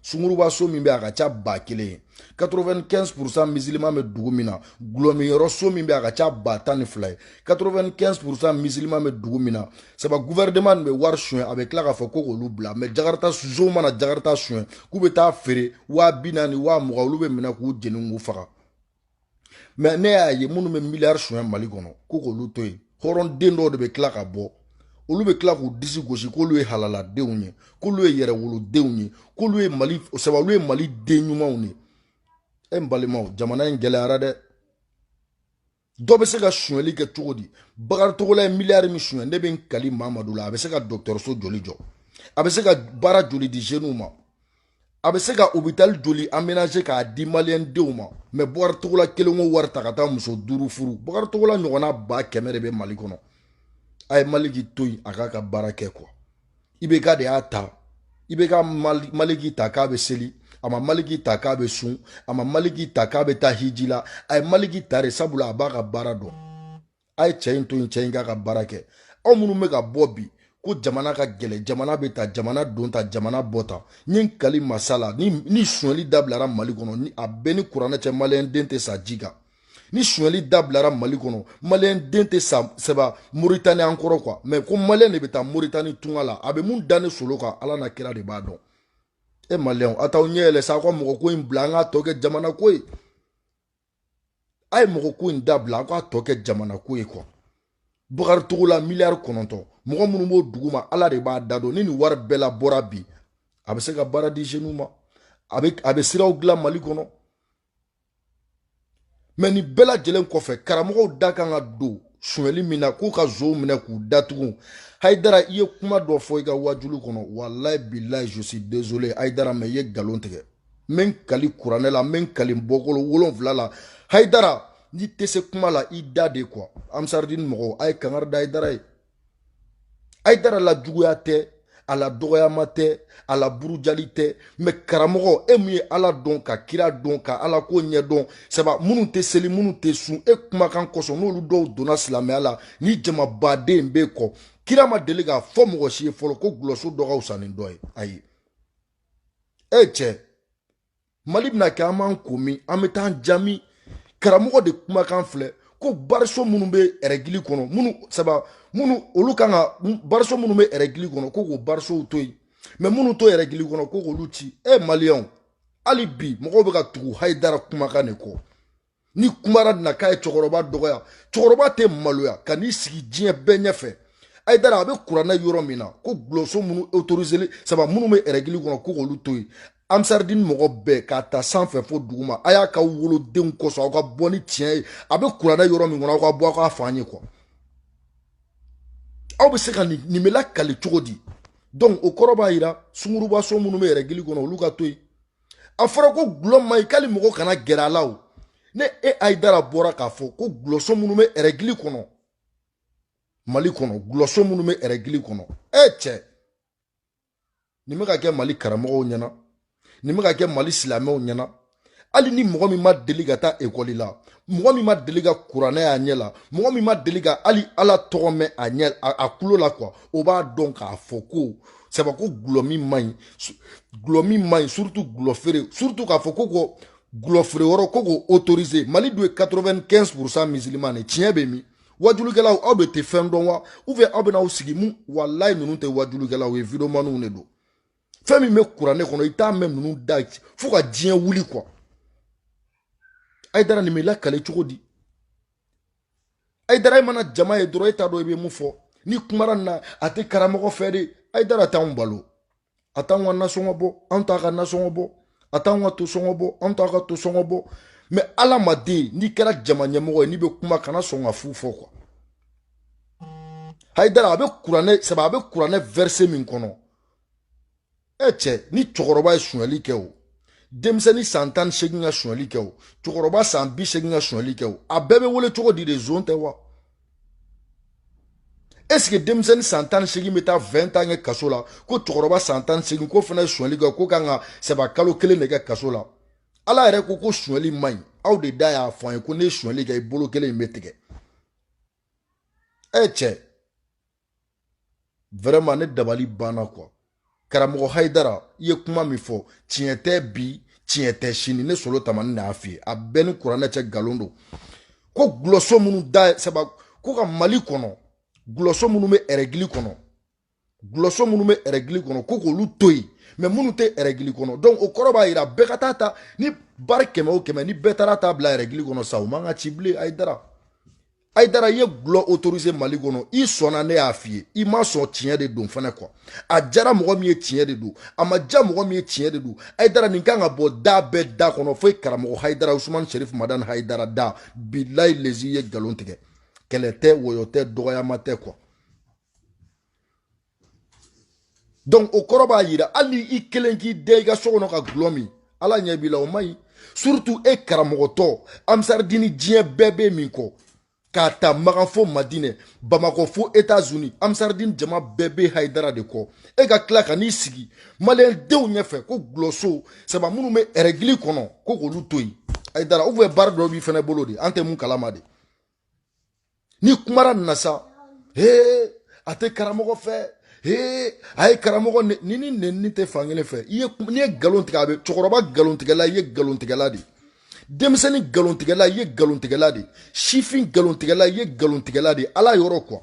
sunguruba so min bɛ a ka ca ba kelen ye 95 pourcent musulman bɛ dugu min na gulɔmiyɔrɔ so min bɛ a ka ca ba tan ni fila ye 95 pourcent musulman bɛ dugu min na saba gouvernement nin bɛ wari suɲɛ a bɛ tila k'a fɔ ko k'olu bila mɛ jakarita sonw mana jakarita suɲɛ k'u bɛ taa feere waa bi naani waa mugan olu bɛ minɛ k'u jeni k'u faga mɛ ne y'a ye minnu bɛ miliyari suɲɛ mali kɔnɔ ko k'olu to yen hɔrɔnden dɔw de bɛ tila ka bɔ olu bɛ tila k'u disi gosi k'olu ye halaladenw ye k'olu ye yɛrɛwolodenw ye k'olu ye mali saba olu ye mali den ɲumanw ye e n balimaw jamana in gɛlɛyara dɛ dɔ bɛ se ka sonyɛli kɛ cogo di bakari togola ye miliyari min sonyɛ ne bɛ n kali mamadu la a bɛ se ka dɔgɔtɔrɔso joli jɔ a bɛ se ka baara joli di zeniw ma a bɛ se ka hôpital joli aménager k'a di maliyɛn denw ma mais Bakari Togola kelen k'o wari ta ka taa muso duuru furu Bakari Togola ɲɔgɔnna ba kɛmɛ de bɛ Mali kɔnɔ a ye Maliki to yen a k'a ka baara kɛ quoi IBK de y'a ta IBK Maliki ta k'a bɛ seli a ma Maliki ta k'a bɛ sun a ma Maliki ta k'a bɛ taa hiji la a ye Maliki ta de sabula a b'a ka baara dɔn a ye cɛ in to yen cɛ in k'a ka baara kɛ aw minnu bɛ ka bɔ bi ko jamana ka gɛlɛ jamana bɛ tan jamana don tan jamana bɔ tan n ye n kali masa la ni ni sonyali dabilara mali kɔnɔ ni a bɛɛ ni kuranɛ cɛ maliyɛn den tɛ sa ji kan ni sonyali dabilara mali kɔnɔ maliyɛn den tɛ sa sɛba moritani an kɔrɔ kuwa mɛ ko maliyɛn de bɛ taa moritani tunga la a bɛ mun da ne solo kan ala n'a kira de b'a dɔn e maliyɛnw a t'aw ɲɛ yɛlɛ sa aw ka mɔgɔ ko in bila an k'a tɔ kɛ jamana ko ye a ye mɔgɔ ko in dabila a k'a tɔ kɛ jamana ko ye kuwa bakari togola miliyari kɔnɔntɔn mɔgɔ minnu b'o duguma ala de b'a da dɔn ni nin wari bɛɛ labɔra bi a bɛ se ka baara di jeniw ma a bɛ siraw dilan mali kɔnɔ mɛ nin bɛɛ lajɛlen kɔfɛ karamɔgɔw da kan ka don sonyɛli min na k'u ka zonw minɛ k'u datugu hayidara i ye kuma dɔ fɔ i ka wajulu kɔnɔ walayi bilayi je suis désolé hayidara mɛ i ye galon tigɛ n bɛ n kali kuranɛ la n bɛ n kali n bɔkolo wolonfila la hayidara n'i tɛ se kuma la i da de kuwa ansaridini mɔgɔw a ye kangari da hayidara ye hayidara la juguya tɛ a la dɔgɔyama tɛ a la burujali tɛ mɛ karamɔgɔ e min ye ala dɔn ka kira dɔn ka ala ko ɲɛ dɔn saba minnu tɛ seli minnu tɛ sun e kumakan kosɔn n'olu dɔw donna silamɛya la ni jamaba de b'e kɔ kira ma deli k'a fɔ mɔgɔ si ye fɔlɔ ko gulɔso dɔ ka wusa ni dɔ ye ayi eh, cɛ mali bɛna kɛ an b'an ko min an bɛ taa an ja min karamɔgɔ de kumakan filɛ ko bariso minnu bɛ ɛrɛgili kɔnɔ minnu saba minnu olu kan ka bariso minnu bɛ ɛrɛgili kɔnɔ ko k'o barisow to yen mɛ minnu t'o ɛrɛgili kɔnɔ ko k'olu ci eh, maliyɛnw hali bi mɔgɔw bɛ ka tugu hayidara kumakan de kɔ ni kumara na k'a ye cɛkɔrɔba dɔgɔya cɛkɔrɔba tɛ maloya ka n'i sigi diɲɛ bɛɛ ɲɛfɛ hayidara a bɛ kuranɛ yɔrɔ min na ko gulɔso minnu autoriseli saba minnu bɛ règle kɔnɔ ko k'olu to yen amsaridini mɔgɔ bɛɛ k'a ta sanfɛ fo duguma a y'a ka wolodenw kosɔn aw ka bɔ ni tiɲɛ ye a bɛ kuranɛ yɔrɔ min kɔnɔ aw ka bɔ aw k'a fɔ an ye quoi aw bɛ se ka nin nin bɛ lakali cogo di donc o kɔrɔ b'a yira sungurubaso minnu bɛ règle kɔnɔ olu ka to yen a fɔra ko gulɔ man ɲi k'ali mɔgɔ kana gɛrɛ a la o n'e hayidara bɔra k'a fɔ ko gulɔso minnu bɛ règle kɔnɔ mali kɔnɔ gulɔso minnu bɛ règle kɔnɔ e cɛ nin bɛ ka kɛ mali karamɔgɔw ɲɛna nin bɛ ka kɛ mali silamɛw ɲɛna hali ni mɔgɔ min ma deli ka taa ekɔli la mɔgɔ min ma deli ka kuranɛ y'a ɲɛ la mɔgɔ min ma deli ka hali ala tɔgɔ mɛn a ɲɛ a kulo la quoi o b'a dɔn k'a fɔ ko saba ko gulɔ min man ɲi gulɔ min man ɲi surtout gulɔ feere surtout k'a fɔ ko ko gulɔ feere yɔrɔ ko k'o autoriser mali dun ye 95 pourcent musulman de tiɲɛ bɛ min wajulikɛlaw aw de tɛ fɛn dɔn wa ou bien aw bɛna aw sigi mun walayi ninnu tɛ wajulikɛlaw ye videomaniw de don fɛn min bɛ kuranɛ kɔnɔ i t'a mɛn ninnu da fo ka diɲɛ wuli quoi hayidara nin bɛ lakali cogo di hayidara e mana jama ye dɔrɔn e t'a dɔn i bɛ mun fɔ ni kumara na a tɛ karamɔgɔ fɛ de hayidara t'anw balo a t'anw ka nasɔngɔ bɔ anw t'a ka nasɔngɔ bɔ a t'anw ka to sɔngɔ bɔ anw t'a ka to sɔngɔ bɔ mais adamaden n'i kɛra jama ɲɛmɔgɔ ye n'i bɛ kuma kana sɔn ka fu fɔ quoi hayidara a bɛ kuranɛ saba a bɛ kuranɛ verset min kɔnɔ ɛ e cɛ ni cɛkɔrɔba ye sonyali kɛ o denmisɛnnin san tan ni seegin ka sonyali kɛ o cɛkɔrɔba san bi seegin ka sonyali kɛ o a bɛɛ bɛ wele cogo di de zon tɛ wa est-ce que denmisɛnnin san tan ni seegin bɛ taa vingt ans kɛ kaso la ko cɛkɔrɔba san tan ni seegin k'o fana ye sonyali kɛ k'o kan ka saba kalo kelen de kɛ kaso la ala yɛrɛ ko ko sonyali man ɲi aw de da y'a fɔ an ye ko n'i ye sonyali kɛ i bolo kelen in bɛ tigɛ ɛ e cɛ vraiment ne dabali banna quoi karamɔgɔ hayidara i ye kuma min fɔ tiɲɛ tɛ bi tiɲɛ tɛ sini ne solo tamani n'a f'i ye a b'e ni kuranɛ cɛ nkalon don ko gulɔso minnu da saba ko ka mali kɔnɔ gulɔso minnu bɛ règle kɔnɔ gulɔso minnu bɛ règle kɔnɔ ko k'olu to yen mais minnu tɛ règle kɔnɔ donc o kɔrɔ b'a jira bɛɛ ka taa ta ni bari kɛmɛ o kɛmɛ ni bɛɛ taara ta bila règle kɔnɔ sa o man ka ci bilen hayidara hayidara i ye gulɔ autoriser mali kɔnɔ i sɔnna ne y'a f'i ye i ma sɔn tiɲɛ de don fana quoi a jara mɔgɔ min ye tiɲɛ de don a ma ja mɔgɔ min ye tiɲɛ de don hayidara nin kan ka bɔ da bɛɛ da kɔnɔ fo i karamɔgɔ hayidara usumani sherif madani hayidara da bilayi lezi i ye nkalon tigɛ kɛlɛ tɛ wɔyɔ tɛ dɔgɔyama tɛ quoi donc o kɔrɔ b'a yira hali ni i kelen k'i den i ka so kɔnɔ ka gulɔ min ala ɲɛ b'i la o man ɲi surtout e karamɔgɔtɔ ansardini diɲɛ bɛɛ bɛ min kɔ k'a ta magan fo madinɛ bamakɔ fo etats-unis ansardini jama bɛɛ bɛ hayidara de kɔ e ka tila ka n'i sigi maliyɛn denw ɲɛfɛ ko gulɔso saba minnu bɛ ɛrɛgili kɔnɔ ko k'olu to yen hayidara ou bien baara dɔ b'i fana bolo de an tɛ min kalama de ni kumara nin na sa hee a tɛ karamɔgɔ fɛ hee a ye karamɔgɔ neni nenni tɛ fankelen fɛ i ye n'i ye nkalon tigɛ a bɛ cɛkɔrɔba nkalontigɛla i ye nkalontigɛla de ye denmisɛnnin nkalontigɛla i ye nkalontigɛla de ye sifin nkalontigɛla i ye nkalontigɛla de ye ala yɔrɔ quoi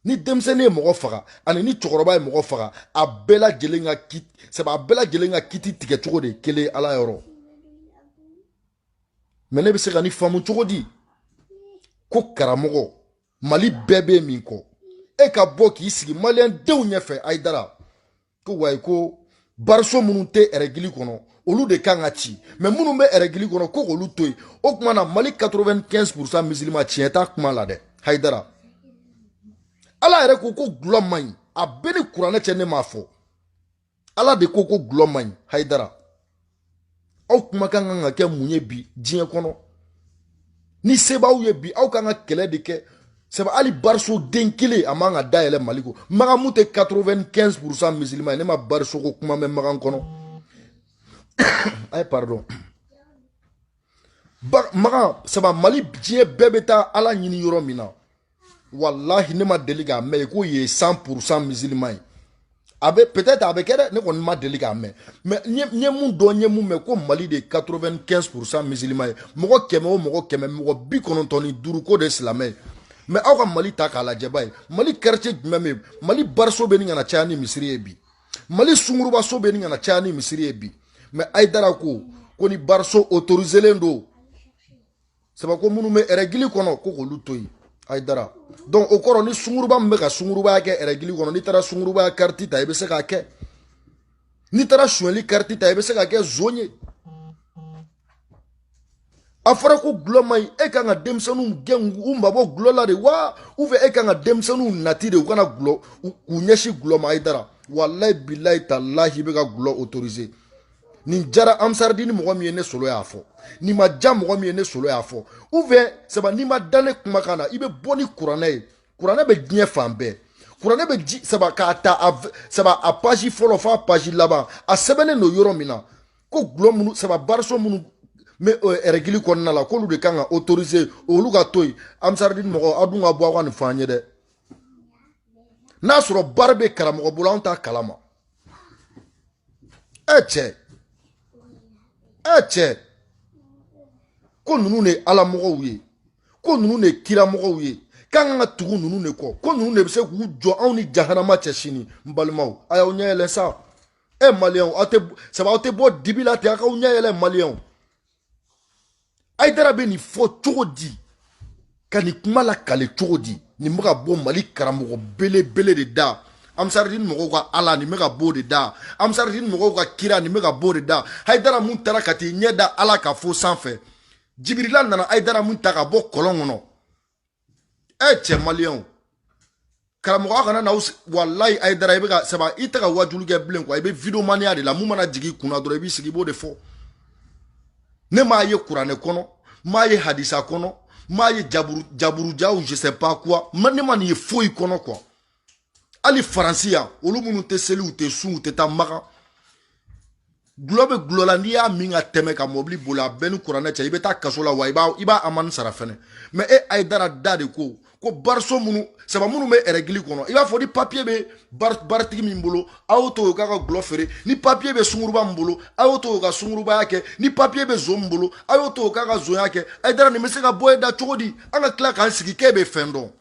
ni denmisɛnnin ye mɔgɔ faga ani ni cɛkɔrɔba ye mɔgɔ faga a bɛɛ lajɛlen ka kiti sabu a bɛɛ lajɛlen ka kiti tigɛ cogo de ye kelen ala yɔrɔ mais ne bɛ se ka nin faamu cogo di ko karamɔgɔ mali bɛɛ bɛ min kɔ e ka bɔ k'i sigi maliyɛn denw ɲɛfɛ hayidara ko wayi ko bariso minnu tɛ ɛrɛgili kɔnɔ olu de kan ka ci mais minnu bɛ ɛrɛgili kɔnɔ ko k'olu to yen o tuma na mali 95 pourcent misilima tiɲɛ t'a kuma la dɛ hayidara ala yɛrɛ ko ko gulɔ man ɲi a bɛ n ni kuranɛ cɛ ne m'a fɔ ala de ko ko gulɔ man ɲi hayidara aw kumakan kan ka kɛ mun ye bi diɲɛ kɔnɔ ni se b'aw ye bi aw kan ka kɛlɛ de kɛ sabu hali bariso den kelen a man kan ka dayɛlɛ mali ko magan min tɛ 95 pourcent musulman ye ne ma bariso ko kuma mɛn magan kɔnɔ ayi pardon magan sabu mali diɲɛ bɛɛ bɛ taa ala ɲini yɔrɔ min na walahi ne ma deli k'a mɛn k'o ye 100 pourcent musulman ye a bɛ peut-être a bɛ kɛ dɛ ne kɔni ma deli k'a mɛn mais n ye mun dɔn n ye mun mɛn ko mali de ye 95 pourcent musulman ye mɔgɔ kɛmɛ o mɔgɔ kɛmɛ mɔgɔ bi kɔnɔntɔn ni duuru k'o de ye silamɛ ye mais aw ka mali ta k'a lajɛba ye mali quartier jumɛn bɛ yen mali bariso bɛ ɲini ka na caya ni misiri ye bi mali sungurubaso bɛ ɲini ka na caya ni misiri ye bi mais hayidara ko ko ni bariso autoriselen don sabu ko minnu bɛ ɛrɛgili kɔnɔ ko k'olu to yen hayidara donc o kɔrɔ ni sunguruba min bɛ ka sungurubaya kɛ ɛrɛgili kɔnɔ n'i taara sungurubaya kariti ta i bɛ se k'a kɛ n'i taara sonyɛli kariti ta i bɛ se k'a kɛ zon ye a fɔra ko gulɔ man ɲi e kan ka denmisɛnninw gɛn u mabɔ gulɔ la de wa ou bien e kan ka denmisɛnninw laadi de u kana gulɔ k'u ɲɛsin gulɔ ma hayidara walayi bilayi talahi i bɛ ka gulɔ autoriser nin diyara amsaridini mɔgɔ min ye ne solo y'a fɔ nin ma diya mɔgɔ min ye ne solo y'a fɔ ou bien saba n'i ma da ne kumakan na i bɛ bɔ ni kuranɛ ye kuranɛ bɛ diɲɛ fan bɛɛ kuranɛ bɛ ji saba k'a ta a saba a paji fɔlɔ f'a paji laban a sɛbɛnnen don yɔrɔ min na ko gulɔ minnu saba bariso minnu bɛ ɛrɛgili kɔnɔna la k'olu de kan ka autoriser olu ka to yen amsaridini mɔgɔ aw dun ka bɔ aw ka nin fɔ an ye dɛ n'a sɔrɔ bari bɛ karamɔgɔ bolo anw t'a kalama cɛ ɛ cɛ ko ninnu de ye ala mɔgɔw ye ko ninnu de ye kira mɔgɔw ye k'an kan ka tugu ninnu de kɔ ko ninnu de bɛ se k'u jɔ anw ni jahanama cɛ sini n balimaw a y'aw ɲɛ yɛlɛ sa ɛ maliyɛnw aw tɛ saba aw tɛ bɔ dibi la ten aw k'aw ɲɛ yɛlɛ maliyɛnw hayidara bɛ nin fɔ cogo di ka nin kuma lakale cogo di nin bɛ ka bɔ mali karamɔgɔ belebele de da amsaridini mɔgɔw ka ala nin bɛ ka b'o de da amsaridini mɔgɔw ka kira nin bɛ ka b'o de da hayidara mun taara ka t'i ɲɛ da ala kan fo sanfɛ jibirila nana hayidara mun ta ka bɔ kɔlɔn kɔnɔ ɛ eh, cɛ maliyɛnw karamɔgɔ kana na walayi hayidara i bɛ ka saba i tɛ ka wajulu kɛ bilen quoi i bɛ videomaniya de la mun mana jigin i kunna dɔrɔn i b'i sigi i b'o de fɔ ne m'a ye kuranɛ kɔnɔ m'a ye hadisa kɔnɔ m'a ye jaburu jaburujaw je sais pas quoi ne ma nin ye foyi kɔnɔ quoi hali faransi yan olu minnu tɛ seli u tɛ sun u tɛ taa makan gulɔ bɛ gulɔ la n'i y'a min ka tɛmɛ ka mɔbili boli a bɛɛ ni kuranɛ cɛ i bɛ taa kaso la wa i b'a i b'a amani sara fɛnɛ mais e hayidara da de ko ko bariso minnu saba minnu bɛ ɛrɛgili kɔnɔ i b'a fɔ ni papiye bɛ baritigi min bolo a y'o to o k'a ka gulɔ feere ni papiye bɛ sunguruba min bolo a y'o to o ka sungurubaya kɛ ni papiye bɛ zon min bolo a y'o to o k'a ka zonya kɛ hayidara nin bɛ se ka bɔ e da cogo di an ka tila k'an sigi k'e bɛ fɛn dɔn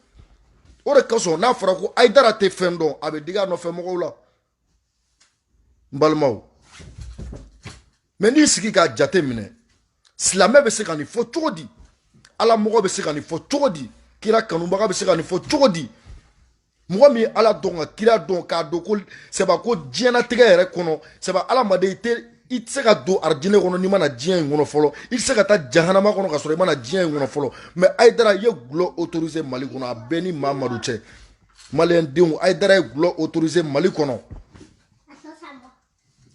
o de kasɔn n'a fɔra ko hayidara tɛ fɛn dɔn a bɛ digi a nɔfɛ mɔgɔw la n balimaw mais n'i sigi k'a jate minɛ silamɛ bɛ se ka nin fɔ cogo di ala mɔgɔ bɛ se ka nin fɔ cogo di kira kanubaga bɛ se ka nin fɔ cogo di mɔgɔ min ye ala dɔn ka kira dɔn k'a dɔn ko sɛba ko diɲɛnatigɛ yɛrɛ kɔnɔ sɛba adamaden i tɛ i tɛ se ka don arijinɛ kɔnɔ n'i ma na diɲɛ in kɔnɔ fɔlɔ i tɛ se ka taa jahanama kɔnɔ ka sɔrɔ i ma na diɲɛ in kɔnɔ fɔlɔ mais hayidara i ye gulɔ autorisé mali kɔnɔ a bɛɛ ni mamadu cɛ maliyɛn denw hayidara ye gulɔ autorisé mali kɔnɔ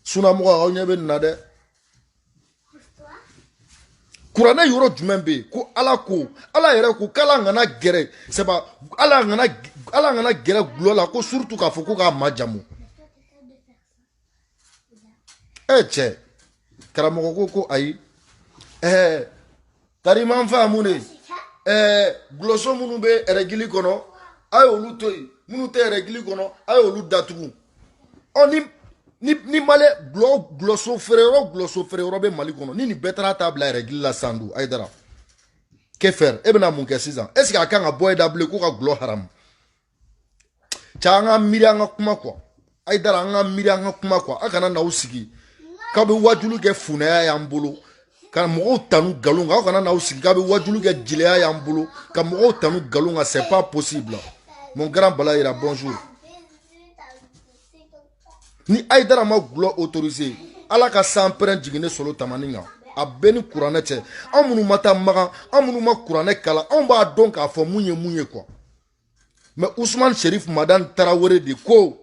sunamɔgɔ aw ɲɛ bɛ nin na dɛ kuranɛ yɔrɔ jumɛn bɛ yen ko ala ko ala yɛrɛ ko k'ala kana gɛrɛ sɛba ala kana ala kana gɛrɛ gulɔ la ko surtout k'a fɔ ko k'a majamu e cɛ karamɔgɔ ko ko ayi ɛɛ kariman fa mun de ɛɛ gulɔso minnu bɛ ɛrɛgili kɔnɔ a y'olu to yen minnu tɛ ɛrɛgili kɔnɔ a y'olu datugu ɔ ni ni ni mali gulɔ gulɔso feere yɔrɔ gulɔso feere yɔrɔ bɛ mali kɔnɔ ni nin bɛɛ taara t'a bila ɛrɛgili la sa donc ayidara que faire e bɛna mun kɛ sisan est ce que a kan ka bɔ e da bilen ko ka gulɔ haramu cɛ an ka miiri an ka kuma kuwa ayidara an ka miiri an ka kuma kuwa a kana na aw sigi k'a bɛ wajulu kɛ funɛya y'an bolo ka mɔgɔw tanu nkalon kan aw kana n'aw sigi k'a bɛ wajulu kɛ jeliya y'an bolo ka mɔgɔw tanu nkalon kan c'est pas possible mon grand balayira bonjour ni ayidara ma gulɔ autorisé ala ka sanpɛrɛn jigin ne solo tamani kan a b'e ni kuranɛ cɛ an minnu ma taa magan an minnu ma kuranɛ kalan anw b'a dɔn k'a fɔ mun ye mun ye kuwa mɛ usman sherif madan tarawele de ko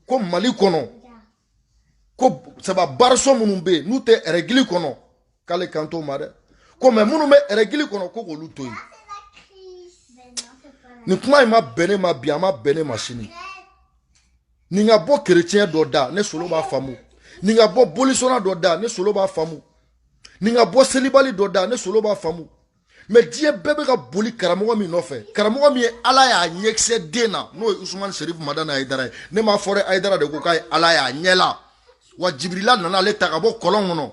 ko mali kɔnɔ ko saba bariso minnu bɛ yen n'u tɛ ɛrɛgili kɔnɔ k'ale kan t'o ma dɛ ko mɛ minnu bɛ ɛrɛgili kɔnɔ ko k'olu to yen nin kuma in ma bɛn ne ma bi a ma bɛn ne ma sini nin ka bɔ kerecɛn dɔ da ne solo b'a faamu nin ka bɔ bolisɔnna dɔ da ne solo b'a faamu nin ka bɔ selibali dɔ da ne solo b'a faamu mɛ diɲɛ bɛɛ bɛ ka boli karamɔgɔ min nɔfɛ karamɔgɔ min ye ala y'a ɲɛkisɛ den na n'o ye usumani serif madani ayidara ye ne m'a fɔ dɛ ayidara de ko k'a ye ala y'a ɲɛ la wa jibirila nana ale ta ka bɔ kɔlɔn kɔnɔ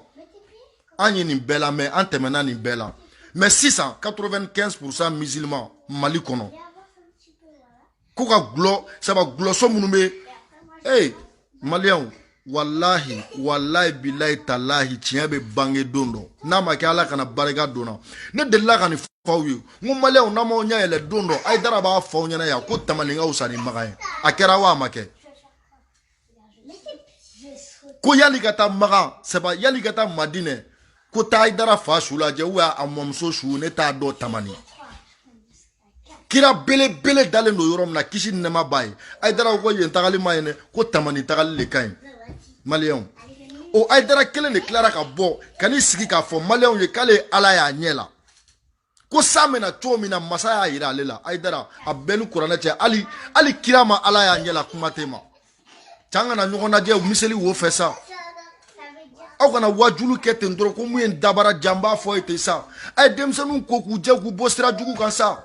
an ye nin bɛɛ la mɛ an tɛmɛna nin bɛɛ la mɛ sisan 95 pourcent musulman mali kɔnɔ ko ka gulɔ saba gulɔso minnu bɛ ee maliyɛnw walahi walahi bilahi talahi tiɲɛ bɛ bange don dɔ n'a ma kɛ ala kana barika don n na ne delila ka nin f'aw ye n ko maliyɛnw n'a m'aw ɲɛ yɛlɛ don dɔ ayidara b'a fɔ aw ɲɛna yan ko tamani ka wusa ni makan ye a kɛra wa a ma kɛ ko yali ka taa magan saba yali ka taa madinɛ ko taa ayidara fa su lajɛ u y'a a mɔmuso su ne t'a dɔn tamani kira belebele dalen don yɔrɔ min na kisi ni nɛma b'a ye ayidara ko yen tagali man ɲi dɛ ko tamani tagali le ka ɲi maliyɛnw o ayidara kelen de tilara ka bɔ ka n'i sigi k'a fɔ maliyɛnw ye k'ale ye ala y'a ɲɛ la ko sa mɛna cogo min na masa y'a yira ale la ayidara a b'e ni kuranɛ cɛ hali hali kira ma ala y'a ɲɛ la kuma t'e ma cɛ an kana ɲɔgɔn lajɛ miseli wo fɛ sa aw kana wajulu kɛ ten dɔrɔn ko mun ye dabara janba fɔ ye ten sa a ye denmisɛnninw ko k'u jɛ k'u bɔ sira jugu kan sa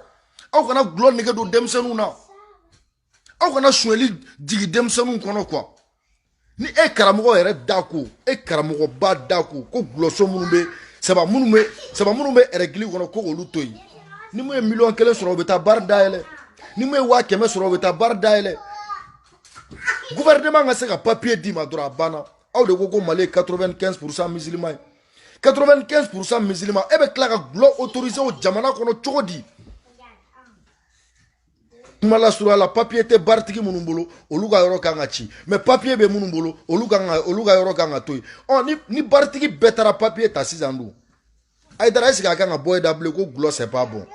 aw kana gulɔ nege don denmisɛnninw na aw kana sonyali jigi denmisɛnninw kɔnɔ kuwa ni e karamɔgɔ yɛrɛ da ko e karamɔgɔba da ko ko gulɔso minnu bɛ c'est pas minnu bɛ c'est pas minnu bɛ ɛrɛgili kɔnɔ ko olu to yen ni mun ye miliyɔn kelen sɔrɔ o bɛ taa baara dayɛlɛ ni mun ye waa kɛmɛ sɔrɔ o bɛ taa baara dayɛlɛ gouvernement ka se ka papier d'i ma dɔrɔn a banna aw de ko ko mali ye 95 pourcent musulman ye 95 pourcent musulman e bɛ tila ka gulɔ autoriser o jamana kɔnɔ cogo di kuma lasurunya la papiye tɛ baritigi minnu bolo olu ka yɔrɔ kan ka ci mɛ papiye bɛ minnu bolo olu ka olu ka yɔrɔ kan ka to yen ɔ ni ni baritigi bɛɛ taara papiye ta sisan dun ayidara ɛsike a kan ka bɔ e da bilen ko gulɔ sɛpa bɔn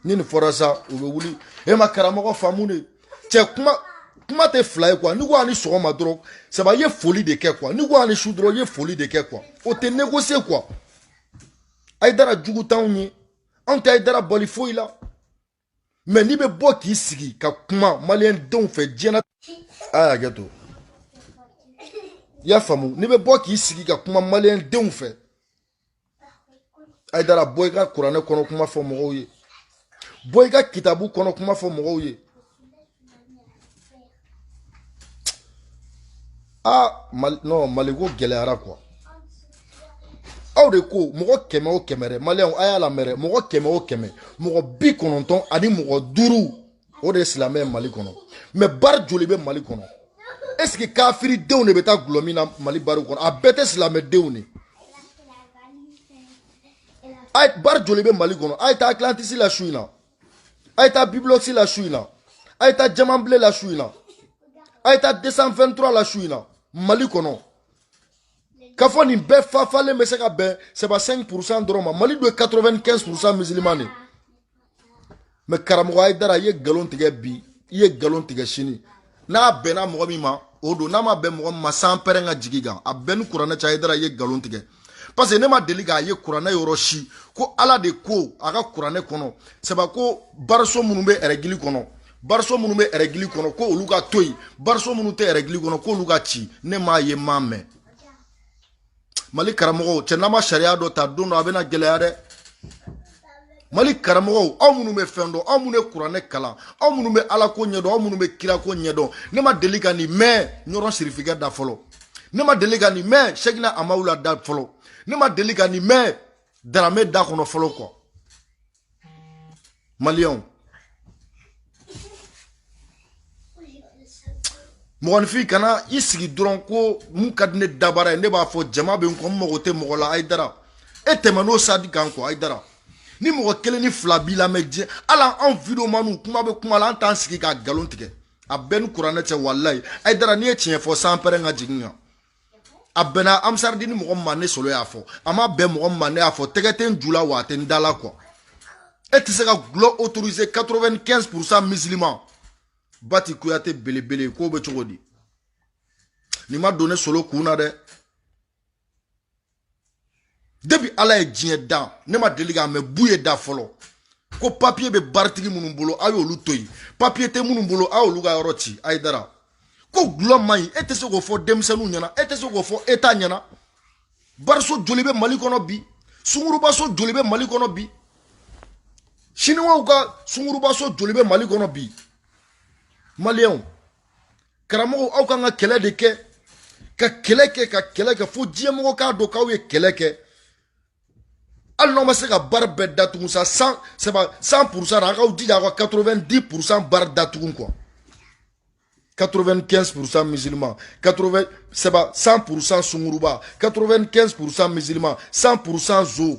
ni nin fɔra sa u bɛ wuli e ma karamɔgɔ faamu de cɛ kuma kuma tɛ fila ye kuwa n'i ko a ni sɔgɔma dɔrɔn sɛpa i ye foli de kɛ kuwa n'i ko a ni su dɔrɔn i ye foli de kɛ kuwa o tɛ negose kuwa ayidara jugu t'anw ye anw tɛ ayidara bali foyi la mɛ n'i bɛ bɔ k'i sigi ka kuma maliyɛn denw fɛ diɲɛ na a ye hakɛ to i y'a faamu n'i bɛ bɔ k'i sigi ka kuma maliyɛn denw fɛ ayidara bɔ i ka kuranɛ kɔnɔ kuma fɔ mɔgɔw ye bɔ i ka kitabu kɔnɔ kuma fɔ mɔgɔw ye aa mali non maliko gɛlɛyara quoi aw de ko mɔgɔ kɛmɛ o kɛmɛ dɛ maliyɛnw a y'a lamɛn dɛ mɔgɔ kɛmɛ o kɛmɛ mɔgɔ bi kɔnɔntɔn ani mɔgɔ duuru o de ye silamɛ ye mali kɔnɔ mɛ bari joli bɛ mali kɔnɔ est ce que kafiridenw de bɛ taa gulɔ min na mali bariw kɔnɔ a bɛɛ tɛ silamɛdenw de ye bari joli bɛ mali kɔnɔ a ye taa atlantis la su in na a ye taa bibilɔsi la su in na a ye taa jamanbile la su in na a ye taa 223 la su in na mali kɔnɔ k'a fɔ nin bɛɛ fafalen bɛ se ka bɛn c'est pas 5 pourcent dɔrɔn ma mali dun ye 95 pourcent musulman de mɛ karamɔgɔ ayidara i ye nkalon tigɛ bi i ye nkalon tigɛ sini n'a bɛnna mɔgɔ min ma o don n'a ma bɛn mɔgɔ min ma sanpɛrɛn ka jigi kan a bɛɛ ni kuranɛ cɛ ayidara ye nkalon tigɛ parce que ne ma deli k'a ye kuranɛ yɔrɔ si ko ala de ko a ka kuranɛ kɔnɔ c'est pas ko bariso minnu bɛ ɛrɛgili kɔnɔ bariso minnu bɛ ɛrɛgili kɔnɔ ko olu ka to yen bariso minnu tɛ ɛrɛgili kɔnɔ k'olu ka ci ne m'a ye n m'a mɛn mali karamɔgɔw cɛ n'an ma sariya dɔ ta don dɔ a bɛna gɛlɛya dɛ mali karamɔgɔw aw minnu bɛ fɛn dɔn aw minnu bɛ kuranɛ kalan aw minnu bɛ ala ko ɲɛdɔn aw minnu bɛ kira ko ɲɛdɔn ne ma deli ka nin mɛn ɲɔrɔ sirifikɛ da fɔlɔ ne ma deli ka nin mɛn sɛkina amawula da fɔlɔ ne ma deli ka nin mɛn daramɛ da kɔnɔ fɔlɔ kɔ maliyɛnw mɔgɔninfin kana i sigi dɔrɔn ko mun ka di ne dabara ye ne b'a fɔ jama bɛ n kɔ n mago tɛ mɔgɔ la ayidara e tɛmɛ n'o sadi kan kuwa ayidara ni mɔgɔ kelen ni fila b'i lamɛn diɲɛ ala anw videomaniw kuma bɛ kuma la an t'an sigi ka nkalon tigɛ a bɛɛ ni kuranɛ cɛ walayi ayidara n'i ye tiɲɛ fɔ san pɛrɛn ka jigin kan a bɛnna ansaridini mɔgɔ min ma ne solo y'a fɔ a ma bɛn mɔgɔ min ma ne y'a fɔ tɛgɛ tɛ n ju la wa a tɛ n da la kuwa e tɛ se ka gulɔ autoriser 95 pourcent musulman bati kuyate belebele k'o bɛ cogo di nin ma don ne solo kun na dɛ depuis ala ye diɲɛ da ne ma deli k'a mɛ buye da fɔlɔ ko papiye bɛ baritigi minnu bolo a y'olu to yen papiye tɛ minnu bolo a y'olu ka yɔrɔ ci ayidara ko gulɔ man ɲi e tɛ se k'o fɔ denmisɛnninw ɲɛna e tɛ se k'o fɔ eta ɲɛna bariso joli bɛ mali kɔnɔ bi sungurubaso joli bɛ mali kɔnɔ bi siniwaw ka sungurubaso joli bɛ mali kɔnɔ bi maliyɛnw karamɔgɔw aw kan ka kɛlɛ de kɛ ka kɛlɛ kɛ ka kɛlɛ kɛ fo diɲɛmɔgɔ k'a dɔn k'aw ye kɛlɛ kɛ hali n'aw ma se ka bari bɛɛ datugu sa 100 purusan na a k'aw jija aw ka 90 purusan bari datugu kuwa 95 purusan musulman 100 purusan sunguruba 95 purusan musulman 100 purusan zo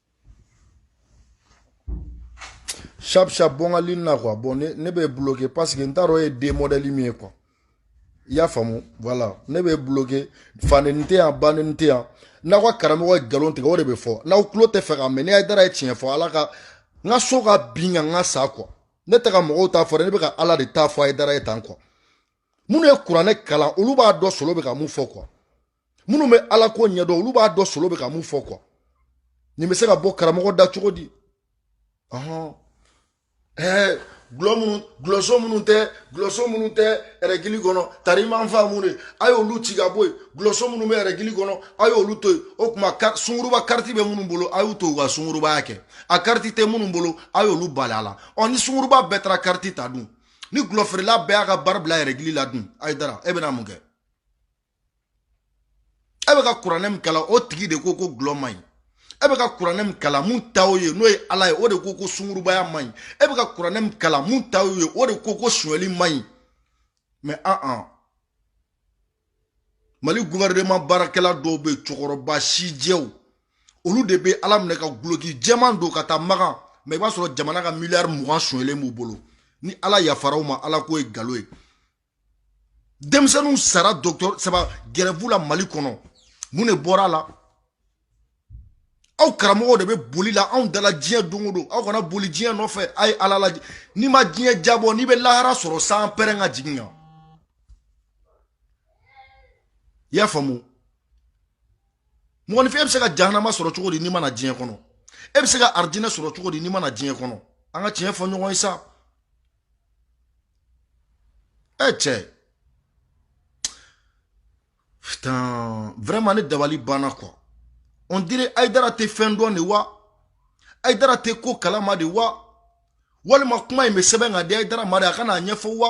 sharp sharp bɔ n ka lini na quoi bon ne ne bɛ bloqué parce que n t'a dɔn e ye den modèle min ye quoi i y'a faamu voilà ne bɛ bloqué faneni tɛ yan baneni tɛ yan n'aw ka karamɔgɔ ye nkalon tigɛ o de bɛ fɔ n'aw tulo t'a fɛ k'a mɛn ni ayidara ye tiɲɛ fɔ ala ka n ka so ka bin ka n ka sa quoi ne tɛ ka mɔgɔw ta fɔ dɛ ne bɛ ka ala de ta fɔ ayidara ye tan quoi minnu ye kuranɛ kalan olu b'a dɔn solo bɛ ka mun fɔ quoi minnu bɛ ala ko ɲɛdɔn olu b'a dɔn solo bɛ ka mun fɔ kuwa nin bɛ se ka bɔ karamɔgɔ da cogo di ɔhɔn ɛɛ gulɔ minnu gulɔso minnu tɛ gulɔso minnu tɛ ɛrɛgili kɔnɔ tarimanfa minnu ye a y'olu ci ka bɔ yen gulɔso minnu bɛ ɛrɛgili kɔnɔ a y'olu to yen o tuma sunguruba kariti bɛ minnu bolo a y'u to u ka sungurubaya kɛ a kariti tɛ minnu bolo a y'olu bali a la ɔ ni sunguruba bɛɛ taara kariti ta dun ni gulɔfeerela bɛɛ y'a ka baara bila ɛrɛgili la dun ayidara e bɛna mun kɛ e bɛ ka kuranɛ min kalan o tigi de ko ko gulɔ man ɲi e bɛ ka kuranɛ min kalan min ta o ye n'o ye ala ye o de ko ko sungurubaya man ɲi e bɛ ka kuranɛ min kalan min ta o ye o de ko ko sonyali man ɲi mɛ an an mali guvɛrɛnema baarakɛla dɔw bɛ cɛkɔrɔba sijɛw olu de bɛ ala minɛ ka guloki jɛman don ka taa makan mɛ i b'a sɔrɔ jamana ka miliyari mugan sonyɛlen b'u bolo ni ala yafara u ma ala ko ye nkalon ye denmisɛnninw sara docteur saba grève la mali kɔnɔ mun de bɔra a la aw karamɔgɔw de bɛ boli la anw da la diɲɛ don o don aw kana boli diɲɛ nɔfɛ a ye ala lajɛ n'i ma diɲɛ jabɔ n'i bɛ lahara sɔrɔ sanpɛrɛn ka jigin n kan i y'a faamu mɔgɔninfin e bɛ se ka jahanama sɔrɔ cogo di n'i ma na diɲɛ kɔnɔ e bɛ se ka arijinɛ sɔrɔ cogo di n'i ma na diɲɛ kɔnɔ an ka tiɲɛ fɔ ɲɔgɔn ye sa Eh cɛ putain vraiment ne dabali banna quoi on dirait Aïdara tɛ fɛn dɔn de wa Aïdara tɛ ko kalama de wa walima kuma in bɛ sɛbɛn ka di Aïdara ma de a ka na a ɲɛfɔ wa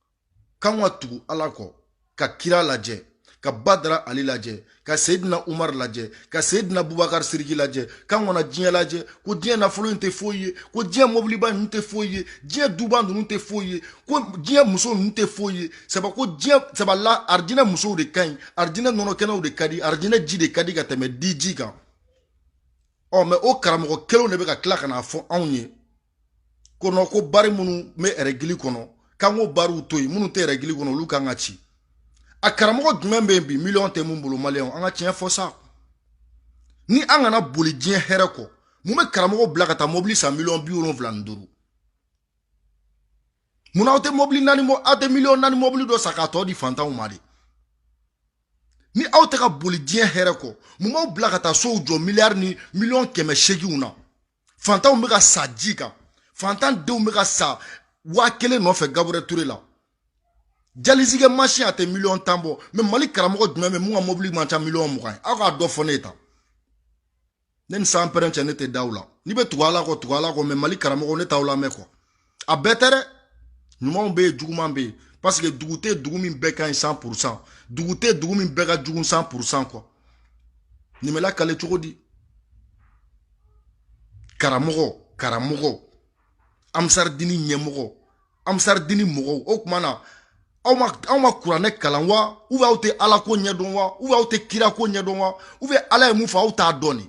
k'an ka tugu ala kɔ ka kira lajɛ ka badara ali lajɛ ka seyidina umar lajɛ ka seyidina bubakar siriki lajɛ k'an kana diɲɛ lajɛ ko diɲɛ nafolo in tɛ foyi ye ko diɲɛ mobiliba ninnu tɛ foyi ye diɲɛ duba ninnu tɛ foyi ye ko diɲɛ muso ninnu tɛ foyi ye sabu ko diɲɛ sabu la arijinɛ musow de ka ɲi arijinɛ nɔnɔkɛnɛw de ka di arijinɛ ji de ka di ka tɛmɛ diji kan ɔ mais o karamɔgɔ kelenw de bɛ ka tila ka n'a fɔ anw ye ko bari minnu bɛ ɛrɛgili kɔnɔ k'an k'o bariw to yen minnu tɛ ɛrɛgili kɔnɔ olu ka kan ka ci a karamɔgɔ jumɛn bɛ yen bi miliyɔn tɛ min bolo maliyɛnw an ka tiɲɛ fɔ sa ni an kana boli diɲɛ hɛrɛ kɔ mun bɛ karamɔgɔ bila ka taa mɔbili san miliyɔn bi wolonwula ni duuru mun na aw tɛ mɔbili naani mɔ aw tɛ miliyɔn naani mɔbili dɔ san k'a tɔ di fantanw ma de ni aw tɛ ka boli diɲɛ hɛrɛ kɔ mun b'aw bila ka taa sow jɔ miliyari ni miliyɔn kɛmɛ seeginw na fantanw bɛ ka sa ji kan fantan denw bɛ ka sa waa kelen nɔfɛ Gabriel Touré la dialyse kɛ masin a tɛ miliyɔn tan bɔ mais mali karamɔgɔ jumɛn bɛ min ka mobili man ca miliyɔn mugan ye aw k'a dɔ fɔ ne ye tan ne ni sanpɛrɛn cɛ ne tɛ da aw la n'i bɛ tugu ala kɔ tugu ala kɔ mais mali karamɔgɔ ne t'aw lamɛn quoi a bɛɛ tɛ dɛ ɲumanw bɛ yen jugumanw bɛ yen parce que dugu tɛ dugu min bɛɛ ka ɲi cent pour cent dugu tɛ dugu min bɛɛ ka jugu cent pour cent quoi nin bɛ lakale cogo di karamɔgɔ karamɔgɔ ansaridini ɲɛmɔgɔ ansaridini mɔgɔw o tuma na aw ma aw ma kuranɛ kalan wa ou bien aw tɛ ala ko ɲɛdɔn wa ou bien aw tɛ kira ko ɲɛdɔn wa ou bien ala ye mun fɔ aw t'a dɔn de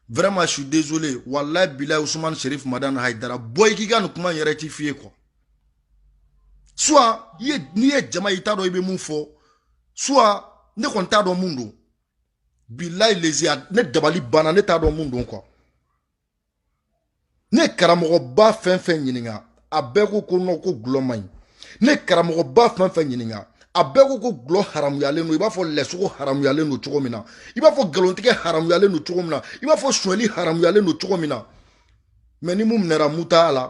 vraiment je suis désolé wallahi bilahi Ousmane Sherif Madani Haidara bɔ i k'i ka nin kuma in rectifier quoi soit i ye n'i ye jama ye i t'a dɔn i bɛ mun fɔ soit ne kɔni t'a dɔn mun don bilahi lezi ne dabali banna ne t'a dɔn mun don quoi ne karamɔgɔba fɛn fɛn ɲininka a bɛɛ ko ko non ko gulɔ man ɲi ne karamɔgɔba fɛn fɛn ɲininka a bɛɛ ko ko gulɔ haramuyalen don i b'a fɔ lɛsogo haramuyalen don cogo min na i b'a fɔ nkalontigɛ haramuyalen don cogo min na i b'a fɔ suɲɛli haramuyalen don cogo min na mais ni mun minɛra muta la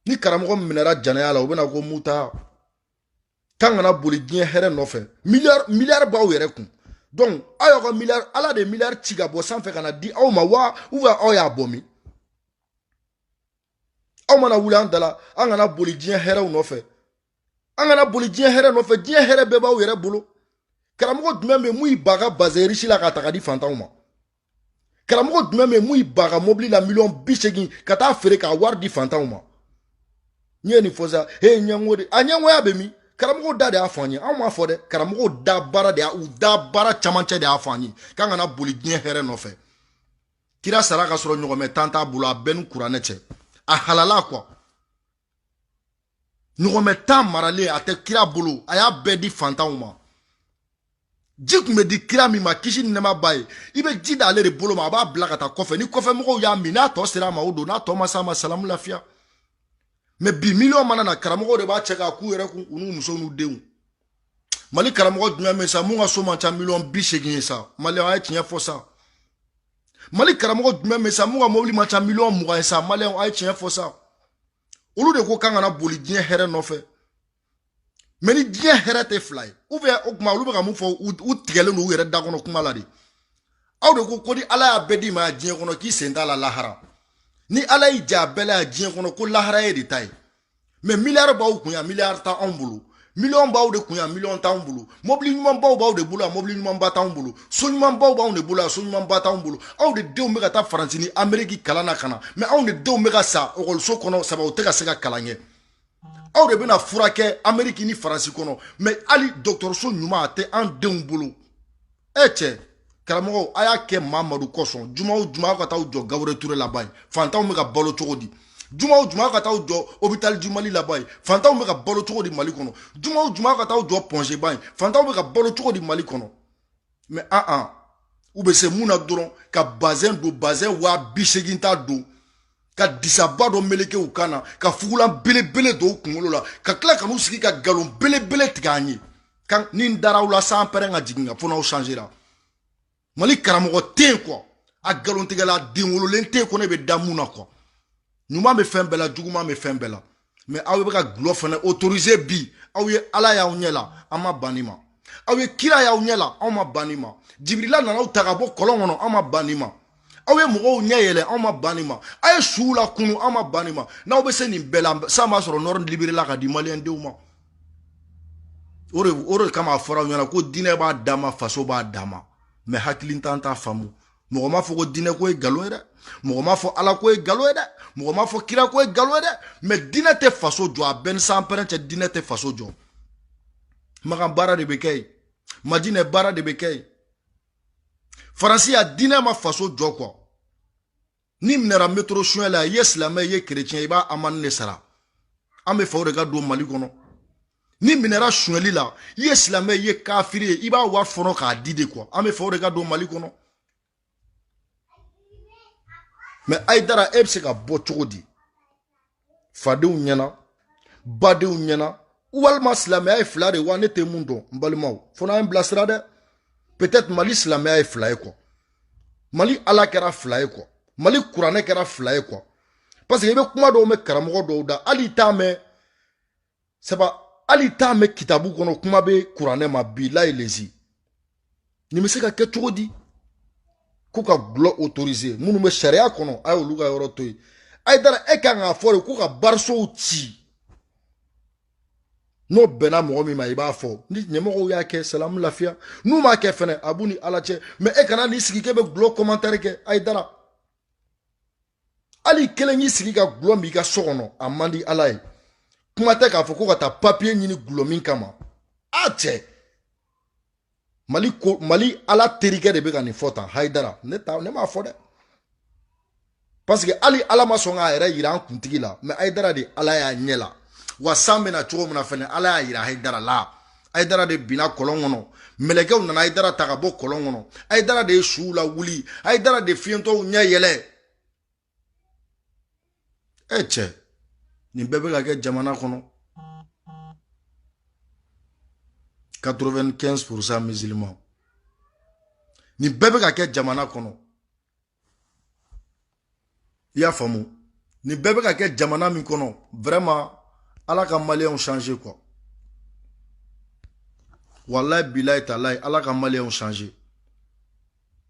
ni karamɔgɔ minɛra janaya la u bɛna ko muta k'an kana boli diɲɛ hɛrɛ nɔfɛ miliyari b'aw yɛrɛ kun donc aw y'aw ka miliyari ala de ye miliyari ci ka bɔ sanfɛ ka na di aw ma wa ou bien aw y'a bɔ min aw mana wuli an da la an kana boli diɲɛ hɛrɛw nɔfɛ an kana boli diɲɛ hɛrɛ nɔfɛ diɲɛ hɛrɛ bɛɛ b'aw yɛrɛ bolo karamɔgɔ jumɛn bɛ mun y'i ban ka bazɛn riche la k'a ta ka di fantanw ma karamɔgɔ jumɛn bɛ mun y'i ban ka mɔbili la miliyɔn bi seegin ka taa feere k'a wari di fantanw ma n ye nin fɔ sa he ɲɛngo de a ɲɛngoya bɛ min karamɔgɔw da de y'a fɔ an ye anw m'a fɔ dɛ karamɔgɔw da baara de y'a u da baara camancɛ de y'a fɔ an ye k'an kana boli diɲɛ hɛrɛ nɔfɛ kira sara ka sɔrɔ ɲɔgɔmɛ tan t'a bolo a bɛ n ni kuranɛ cɛ a halala quoi ɲɔgɔmɛ tan maralen a tɛ kira bolo a y'a bɛɛ di fantanw ma ji tun bɛ di kira min ma kisi ni nɛɛma b'a ye i bɛ ji da ale de bolo ma a b'a bila ka taa kɔfɛ ni kɔfɛ mɔgɔw y'a min n'a tɔ sera a ma o don n'a tɔ ma s'a ma salamu lafiya mais bi miliyɔn mana na karamɔgɔw de b'a cɛ k'a k'u yɛrɛ kun u n'u muso n'u denw mali karamɔgɔ jumɛn bɛ sa mun ka so man ca miliyɔn bi seegin ye sa maliyɛnw a ye tiɲɛ fɔ sa mali karamɔgɔ jumɛn bɛ sa mun ka mobili man ca miliyɔn mugan ye sa maliyɛnw a ye tiɲɛ fɔ sa olu de ko k'an kana boli diɲɛ hɛrɛ nɔfɛ mais ni diɲɛ hɛrɛ tɛ fila ye ou bien o tuma olu bɛ ka mun fɔ u tigɛlen don u yɛrɛ da kɔnɔ kuma la de aw de ko ko ni ala y'a bɛɛ d'i ma diɲɛ kɔnɔ k'i sen t'a la lahara ni ala y'i ja a bɛɛ la yan diɲɛ kɔnɔ ko lahara y'e de ta ye mais miliyari b'aw kun yan miliyari t'anw bolo miliyɔn b'aw de kun yan miliyɔn t'anw bolo mɔbili ɲumanbaw b'aw de bolo yan mɔbili ɲumanba t'anw bolo so ɲumanbaw b'aw de bolo yan so ɲumanba t'anw bolo aw de denw bɛ ka taa faransi ni ameriki kalan na ka na mais anw de denw bɛ ka sa ekɔliso kɔnɔ sabu u tɛ ka se ka kalan kɛ aw de bɛna furakɛ ameriki ni faransi kɔnɔ mais hali dɔgɔtɔrɔso ɲuman a tɛ an denw bolo e cɛ karamɔgɔw a y'a kɛ mamadu kosɔn juma o juma aw ka taa jɔ Gabriel Touré la a b'a ye fantanw bɛ ka balo cogo di juma o juma ka taa jɔ hôpital du Mali la a b'a ye fantanw bɛ ka balo cogo di Mali kɔnɔ juma o juma ka taa jɔ Point G a b'a ye fantanw bɛ ka balo cogo di Mali kɔnɔ mais an ah, an ah. u bɛ se mun na dɔrɔn ka bazɛn don bazɛn waa bi seegin ta don ka disaba dɔ meleke u kan na ka fugulan belebele don u kunkolo la ka tila ka n'u sigi ka nkalon belebele tigɛ an ye kan ni n dara aw la san pɛrɛn ka jigin n kan fo n'aw changera mali karamɔgɔ tɛ yen quoi a nkalontigɛla den wololen tɛ yen ko ne bɛ da mun na quoi ɲuman bɛ fɛn bɛɛ la juguman bɛ fɛn bɛɛ la mɛ aw bɛ ka gulɔ fana otorize bi aw ye ala y'aw ɲɛ la an ma ban nin ma aw ye kira y'aw ɲɛ la anw ma ban nin ma jibirila nana aw ta ka bɔ kɔlɔn kɔnɔ anw ma ban nin ma aw ye mɔgɔw ɲɛ yɛlɛ anw ma ban nin ma aw ye suw la kunu anw ma ban nin ma n'aw bɛ se nin bɛɛ la sa a b'a sɔrɔ nɔrɔ liberela ka di maliyɛndenw ma o de kama a fɔra aw ɲɛna ko diinɛ b'a dama faso b'a dama mɛ hakilintan t'a faamu mɔgɔ m'a fɔ ko diinɛ ko ye nkalon ye dɛ mɔgɔ m'a fɔ ala ko ye nkalon ye dɛ mɔgɔ m'a fɔ kira ko ye nkalon ye dɛ mɛ diinɛ tɛ faso jɔ a b'e ni sanpɛrɛn cɛ diinɛ tɛ faso jɔ makan baara de bɛ kɛ yen madinɛ baara de bɛ kɛ yen faransi a diinɛ ma faso jɔ quoi n'i minɛra metro suɲɛ la i ye silamɛ i ye kerecɛn i b'a amende de sara an b'a fɛ o de ka don mali kɔnɔ n'i minɛra suɲɛli la i ye silamɛ i ye kafiri ye i b'a wari fɔnɔ k'a di de kuwa an b'a fɛ o de ka don mali kɔnɔ mɛ ayidara e bɛ se ka bɔ cogo di fadenw ɲɛna badenw ɲɛna walima silamɛya ye fila de wa ne tɛ mun dɔn n balimaw fo n'aw ye n bilasira dɛ peut-être mali silamɛya ye fila ye quoi mali ala kɛra fila ye quoi mali kuranɛ kɛra fila ye quoi parce que i bɛ kuma dɔw mɛn karamɔgɔ dɔw da hali i t'a mɛn saba hali t'a mɛn kitabu kɔnɔ kuma tɛ kuranɛ ma bilayi lezi nin bɛ se ka kɛ cogo di ko ka gulɔ otorize minnu bɛ sariya kɔnɔ a y'olu ka yɔrɔ to yen ayidara e kan k'a fɔ de ko ka barisow ci n'o bɛnna mɔgɔ min ma i b'a fɔ ni ɲɛmɔgɔw y'a kɛ salamu lafiya n'u m'a kɛ fɛnɛ a b'u ni ala cɛ mɛ e kana n'i sigi k'e bɛ gulɔ kɔmantɛri kɛ ayidara hali i kelen y'i sigi ka gulɔ min i ka so kɔnɔ a man di ala ye kuma tɛ k'a fɔ ko ka taa papiye ɲini gulɔ min kama a cɛ mali ala terikɛ de bɛ ka nin fɔ tan hayidara ne m'a fɔ dɛ paseke hali ala ma sɔn k'a yɛrɛ yira an kuntigi la mɛ hayidara de ala y'a ɲɛ la wa san bɛ na cogo min na fɛnɛ ala y'a yira hayidara la ayidara de binna kɔlɔn kɔnɔ mɛlɛkɛw nana ayidara ta ka bɔ kɔlɔn kɔnɔ ayidara de ye suw la wuli ayidara de fiyentɔw ɲɛ yɛlɛ e cɛ nin bɛɛ bɛ ka kɛ jamana kɔnɔ 95 pourcent musulman nin bɛɛ bɛ ka kɛ jamana kɔnɔ i y'a faamu nin bɛɛ bɛ ka kɛ jamana min kɔnɔ vraiment ala ka maliyɛnw changer quoi walayi bilayi talayi ala ka maliyɛnw changer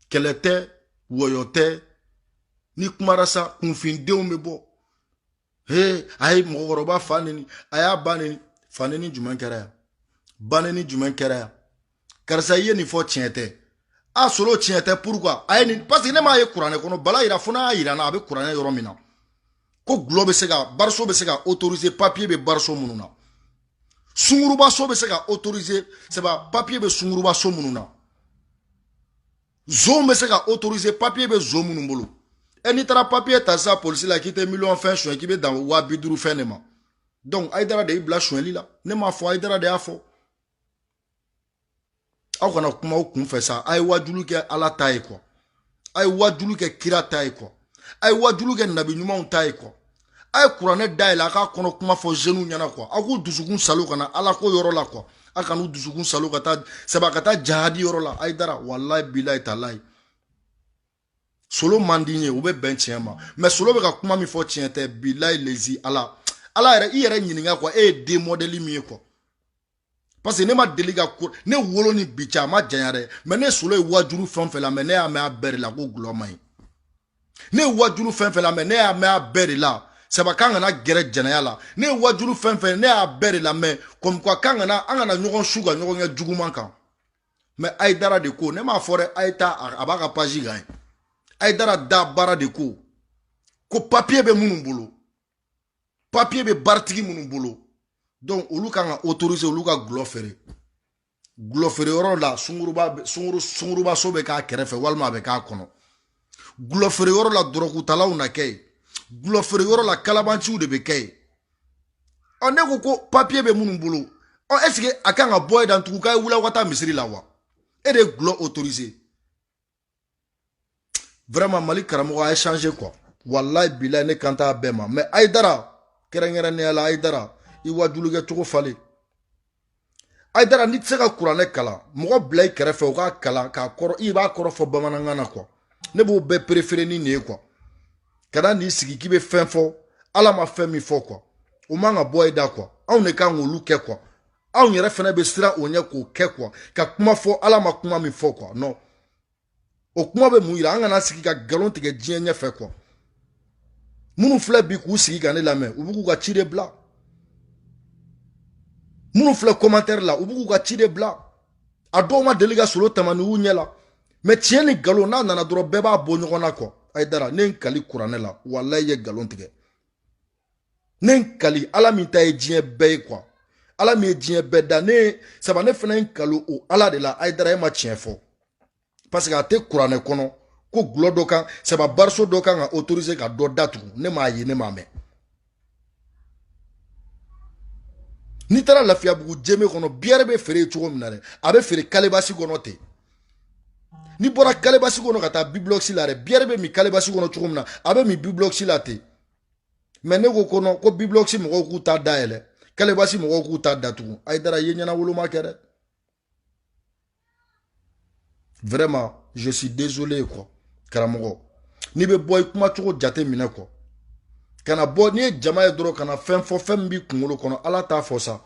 kɛlɛ tɛ wɔyɔ tɛ n'i kumara sa kunfindenw bɛ bɔ he a ye mɔgɔkɔrɔba fa neni a y'a ba neni fa neni jumɛn kɛra yan ba neni jumɛn kɛra yan karisa i ye nin fɔ tiɲɛ tɛ a solo tiɲɛ tɛ pourquoi a ye nin parce que ne m'a ye kuranɛ kɔnɔ bala yira fo n'a y'a yira n na a bɛ kuranɛ yɔrɔ min na ko gulɔ bɛ se ka bariso bɛ se ka autoriser papier bɛ bariso minnu na sungurubaso bɛ se ka autoriser sɛba papier bɛ sungurubaso minnu na zon bɛ se ka autoriser papier bɛ zon minnu bolo ɛ n'i taara papier ta sisan polisi la k'i tɛ miliyɔn fɛn suɲɛ k'i bɛ dan waa bi duuru fɛn de ma donc ayidara de y'i bila suɲɛli la ne m'a fɔ ayidara de y'a fɔ aw kana kuma aw kunfɛ sa a ye wajulu kɛ ala ta ye quoi a ye wajulu kɛ kira ta ye quoi a ye wajulu kɛ nabi ɲumanw ta ye quoi a ye kuranɛ dayɛlɛ a k'a kɔnɔ kuma fɔ jeunes ɲɛna quoi a k'u dusukun salo ka na ala ko yɔrɔ la quoi a kan'u dusukun salo ka taa saba ka taa jahadi yɔrɔ la ayidara walayi bilayi talayi solo man d'i ye u bɛ bɛn tiɲɛ ma mais solo bɛ ka kuma min fɔ tiɲɛ tɛ bilayi lezi ala ala yɛrɛ i yɛrɛ ɲininka quoi e ye den modèle min ye quoi parce que ne ma deli ka ko ne wolo ni bi cɛ a ma janya dɛ mais ne solo ye wajulu fɛn fɛn lamɛn ne y'a mɛn a bɛɛ de la ko gulɔ man ɲi ne ye wajulu fɛn fɛn lamɛn ne y'a mɛn a bɛɛ de la saba k'an kana gɛrɛ jɛnɛya la ne ye wajulu fɛn fɛn ne y'a bɛɛ de lamɛn comme quoi k'an kana an kana ɲɔgɔn su ka ɲɔgɔn kɛ juguman kan mais ayidara de ko ne m'a fɔ dɛ a ye taa a b'a ka page kan yen ayidara da baara de ko ko papier bɛ minnu bolo papier bɛ baritigi minnu bolo donc olu kan ka autoriser olu ka gulɔ feere gulɔ feere yɔrɔ la sunguruba sunguru sungurubaso bɛ k'a kɛrɛfɛ walima a bɛ k'a kɔnɔ gulɔ feere yɔrɔ la dɔrɔgutalaw na kɛ yen gulɔ feere yɔrɔ la kalabanciw de bɛ kɛ yen ɔ n'e ko ko papier bɛ minnu bolo ɔ est-ce que a kan ka bɔ e da tugun k'a ye wuli aw ka taa misiri la wa e de ye gulɔ autoriser vraiment mali karamɔgɔ a ye changer quoi wallahi bilayi ne kan t'a bɛɛ ma mais ayidara kɛrɛnkɛrɛnnenya la ayidara i wajulukɛ cogo falen ayidara n'i tɛ se ka kuranɛ kalan mɔgɔ bila i kɛrɛfɛ o k'a kalan k'a kɔrɔ i b'a kɔrɔ fɔ bamanankan na quoi ne b'o bɛɛ préférer ni nin ye quoi kana n'i sigi k'i bɛ fɛn fɔ ala ma fɛn min fɔ quoi o man ka bɔ i da quoi anw de kan k'olu kɛ quoi anw yɛrɛ fana bɛ siran o ɲɛ k'o kɛ quoi ka kuma fɔ ala ma kuma min fɔ quoi non o kuma bɛ mun yira an kana sigi ka nkalon tigɛ diɲɛ ɲɛfɛ quoi minnu filɛ bi k'u sigi ka ne lamɛn u bɛ k'u ka ci de bila minnu filɛ commentaire la u bɛ k'u ka ci de bila a dɔw ma deli ka solo tamani y'u ɲɛ la mais tiɲɛ ni nkalon n'a nana dɔrɔn bɛɛ b'a bɔ ɲɔgɔn na quoi ayidara ne ye n kali kuranɛ la walayi i ye nkalon tigɛ ne n kali ala min ta ye diɲɛ bɛɛ ye quoi ala min ye diɲɛ bɛɛ da ne ye saba ne fana ye n kali o ala de la ayidara e ma tiɲɛ fɔ parce que a tɛ kuranɛ kɔnɔ ko gulɔ dɔ kan saba bariso dɔ kan ka autoriser ka dɔ datugu ne m'a ye ne m'a mɛn n'i taara lafiyabugu jeme kɔnɔ biyɛrɛ bɛ feere cogo min na dɛ a bɛ feere kalebasi kɔnɔ ten n'i bɔra kalebasi kɔnɔ ka taa biblɔsi la dɛ biyɛrɛ bɛ min kalebasi kɔnɔ cogo min na a bɛ min biblɔsi la ten mais ne ko ko nɔ ko biblɔsi mɔgɔw k'u ta dayɛlɛ kalebasi mɔgɔw k'u ta datugu ayidara ye ɲɛnawoloma kɛ dɛ vraiment je suis désolé quoi karamɔgɔ n'i bɛ bɔ i kuma cogo jate minɛ quoi kana bɔ n'i ye jama ye dɔrɔn ka na fɛn fɔ fɛn min b'i kunkolo kɔnɔ ala ta fɔ sa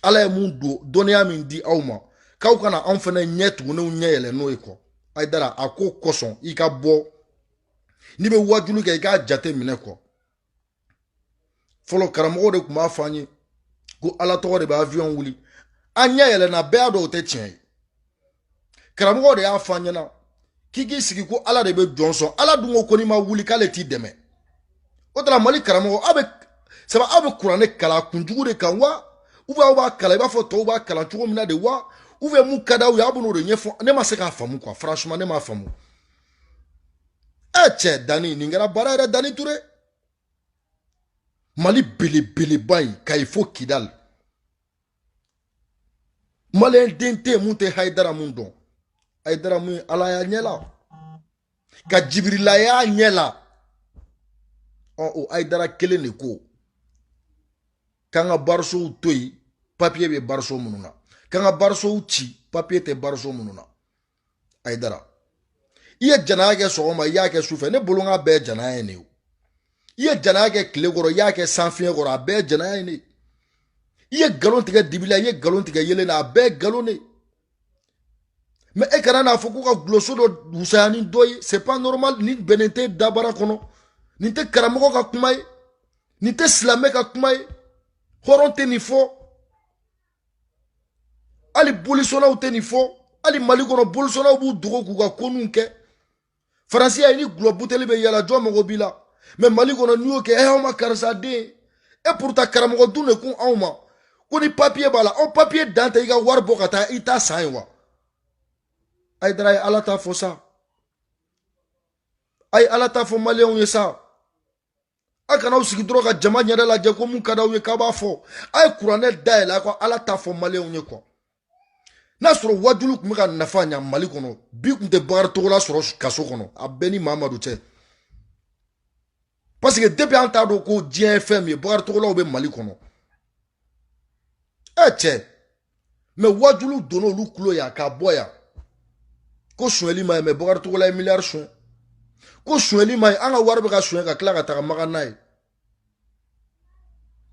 ala ye mun don dɔnniya min di aw ma k'aw ka na anw fana ɲɛ tugunenw ɲɛ yɛlɛ n'o ye quoi ayidara a ko kosɔn i ka bɔ n'i bɛ wajulu kɛ i k'a jate minɛ quoi fɔlɔ karamɔgɔw de tun b'a fɔ an ye ko ala tɔgɔ de bɛ avion wuli an ɲɛ yɛlɛnna bɛɛ y'a dɔn o tɛ tiɲɛ ye karamɔgɔw de y'a fɔ an ɲɛna k'i k'i sigi ko ala de bɛ jɔn sɔn ala dun ko ko n'i ma wuli k'ale t'i dɛmɛ o tuma mali karamɔgɔ aw bɛ sabu aw bɛ kuranɛ kalan kunjugu de kan wa ou bien aw b'a kalan i b'a fɔ tɔw b'a kalan cogo min na de wa ou bien mun ka d'aw ye aw bɛn'o de ɲɛfɔ ne ma se k'a faamu quoi franchement ne m'a faamu ɛ cɛ dani nin kɛra baara yɛrɛ dani ture mali belebeleba in kayi fo kidali maliyɛn den tɛ yen min tɛ hayidara mun dɔn hayidara min ye ala y'a ɲɛ la ka jibirila y'a ɲɛ la ɔ o hayidara kelen de ko k'an ka barisow to yen papiye bɛ bariso minnu na k'an ka barisow ci papiye tɛ bariso minnu na ayidara i ye janaya kɛ sɔgɔma i y'a kɛ sufɛ ne bolo k'a bɛɛ janaya ye ne ye i ye janaya kɛ tile kɔrɔ i y'a kɛ sanfiɲɛ kɔrɔ a bɛɛ janaya ye ne ye i ye nkalon tigɛ dibi la i ye nkalon tigɛ yeelen na a bɛɛ nkalon de ye mais e kana n'a fɔ ko ka gulɔso dɔ wusaya ni dɔ ye c'est pas normal nin bɛnnen tɛ dabara kɔnɔ nin tɛ karamɔgɔ ka kuma ye nin tɛ silamɛ ka kuma ye hɔrɔn tɛ nin fɔ hali bolisɔnnaw tɛ nin fɔ hali mali kɔnɔ bolisɔnnaw b'u dogo k'u ka koninw kɛ faransi y'a ye ni gulɔ buteli bɛ yala jɔn mago b'i la mais mali kɔnɔ n'i y'o kɛ ɛ aw ma karisa den e pourtant karamɔgɔ dun de kun anw ma ko ni papiye b'a la aw papiye dan tɛ i ka wari bɔ ka taa i ta san ye wa ayidara ye ala ta fɔ sa a ye ala ta fɔ maliyɛnw ye sa a kana aw sigi dɔrɔn ka jama ɲɛda lajɛ ko mun ka d'aw ye k'a b'a fɔ a ye kuranɛ dayɛlɛ a ka ala ta fɔ maliyɛnw ye kuwa n'a sɔrɔ wajulu tun bɛ ka nafa ɲa mali kɔnɔ bi tun tɛ bakari togola sɔrɔ kaso kɔnɔ a bɛ n ni mamadu cɛ parce que depuis an t'a dɔn ko diɲɛ ye fɛn min ye bakari togolaw bɛ mali kɔnɔ ɛ cɛ mɛ wajulu donna olu kulo yan ka bɔ yan ko sonyɛli man ɲi mɛ bakari togola ye miliyari sonyɛ ko sonyɛli man ɲi an ka wari bɛ ka sonyɛ ka tila ka taga magan n'a ye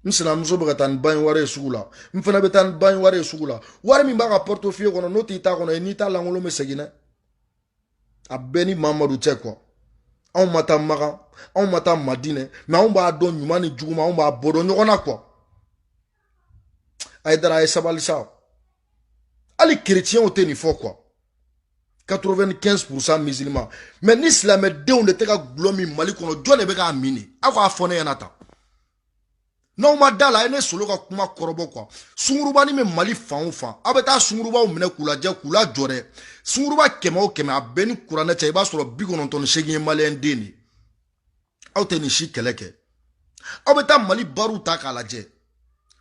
n sinamuso bɛ ka taa ni bange wari ye sugu la n fana bɛ taa ni bange wari ye sugu la wari min b'a ka pɔritofiye kɔnɔ n'o t'i ta kɔnɔ i n'i ta lankolon bɛ segin dɛ a bɛ n ni mamadu cɛ kuwa anw ma taa magan anw ma taa madinɛ mɛ anw b'a dɔn ɲuman ni juguman anw b'a bɔ dɔn ɲɔgɔn na kuwa ayidara a ye sabali sa hali kereciyɛnw tɛ nin fɔ kuwa 95 pourcent musulman mɛ ni silamɛdenw de tɛ ka gulɔ min mali kɔnɔ jɔn de bɛ k'a min de aw k'a fɔ ne ɲɛna tan n'aw ma da la a ye ne solo ka kuma kɔrɔbɔ kuwa sunguruba ni bɛ mali fan o fan aw bɛ taa sungurubaw minɛ k'u lajɛ k'u lajɔ dɛ sunguruba kɛmɛ o kɛmɛ a bɛ n ni kuranɛ cɛ i b'a sɔrɔ bi kɔnɔntɔn ni seegin ye maliyɛn den de ye aw tɛ nin si kɛlɛ kɛ aw bɛ taa mali bariw ta k'a lajɛ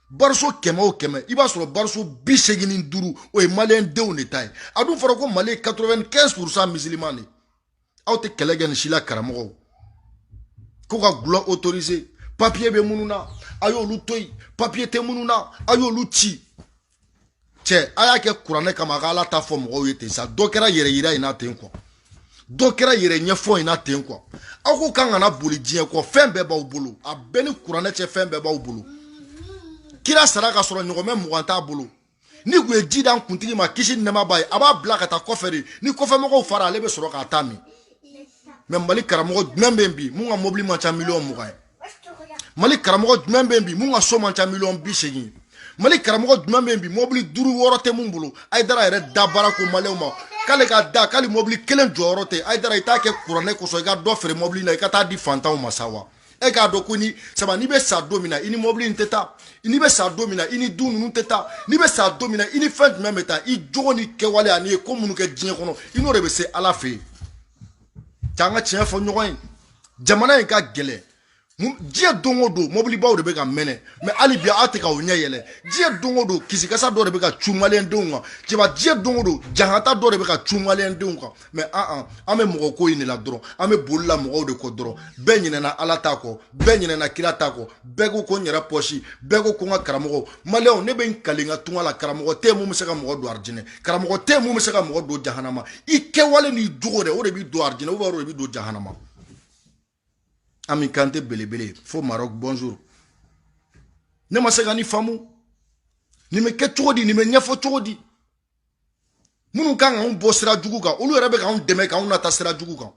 bariso kɛmɛ o kɛmɛ i b'a sɔrɔ bariso bi seegin ni duuru o ye maliyɛn denw de ta ye a dun fɔra ko mali ye 95 pourcent musulman de aw tɛ kɛlɛ kɛ nin si la karamɔgɔw ko ka gulɔ autoriser papiye bɛ minnu na a y'olu to yen papiye tɛ minnu na a y'olu ci cɛ a y'a kɛ kuranɛ kama a ka ala ta fɔ mɔgɔw ye ten sa dɔ kɛra yɛrɛ yira in na ten kuwa dɔ kɛra yɛrɛ ɲɛfɔ in na ten kuwa aw ko k'an kana boli diɲɛ kɔ fɛn bɛɛ b'aw bolo a bɛ n ni kuranɛ cɛ fɛn bɛɛ b'aw bolo kira sara ka sɔrɔ ɲɔgɔmɛ mugan t'a bolo n'i tun ye ji d'an kuntigi ma kisi nɛɛma b'a ye a b'a bila ka taa kɔfɛ de ni kɔfɛmɔgɔw fara ale bɛ sɔrɔ k'a ta min mɛ mali karamɔgɔ jumɛn bɛ yen bi mun ka mobili man ca miliyɔn mugan ye mali karamɔgɔ jumɛn bɛ yen bi mun ka so man ca miliyɔn bi seegin ye mali karamɔgɔ jumɛn bɛ yen bi mobili duuru wɔɔrɔ tɛ mun bolo ayidara yɛrɛ da b'a ra ko maliyɛnw ma k'ale ka da k'ale mobili kelen jɔyɔrɔ tɛ ayidara i t'a kɛ kuranɛ kosɔn i ka dɔ feere mobili la i ka t'a di fantanw ma sa wa e k'a dɔn ko ni saba n'i bɛ sa don min na i ni mɔbili in tɛ taa n'i bɛ sa don min na i ni du ninnu tɛ taa n'i bɛ sa don min na i ni fɛn jumɛn bɛ taa i jogo ni kɛwale an'i ye ko minnu kɛ diɲɛ kɔnɔ i n'o de bɛ se ala fɛ yen k'an ka tiɲɛ fɔ ɲɔgɔn ye jamana in ka gɛlɛn diɲɛ don o don mɔbilibaw de bɛ ka mɛnɛ mɛ hali bi aw tɛ k'aw ɲɛ yɛlɛ diɲɛ don o don kisikasa dɔ de bɛ ka cu maliyɛndenw kan cɛba diɲɛ don o don jahata dɔ de bɛ ka cu maliyɛndenw kan mɛ an an an bɛ mɔgɔ ko in de la dɔrɔn an bɛ boli la mɔgɔw de kɔ dɔrɔn bɛɛ ɲinɛna ala ta kɔ bɛɛ ɲinɛna kira ta kɔ bɛɛ ko ko n yɛrɛ pɔsi bɛɛ ko ko n ka karamɔgɔ maliyɛnw ne bɛ n kali n ka tunga la karamɔgɔ tɛ mun bɛ se ka mɔgɔ don arijinɛ karamɔgɔ tɛ mun bɛ se ka mɔgɔ don jahanama i kɛwale n'i jogo dɛ o de b'i don arijinɛ ubiyɛn o de b'i don jahanama ami kante belebele fo maroc bonjour ne ma se ka nin faamu nin bɛ kɛ cogo di nin bɛ ɲɛfɔ cogo di minnu kan k'anw bɔ sira jugu kan olu yɛrɛ bɛ k'anw dɛmɛ k'anw nata sira jugu kan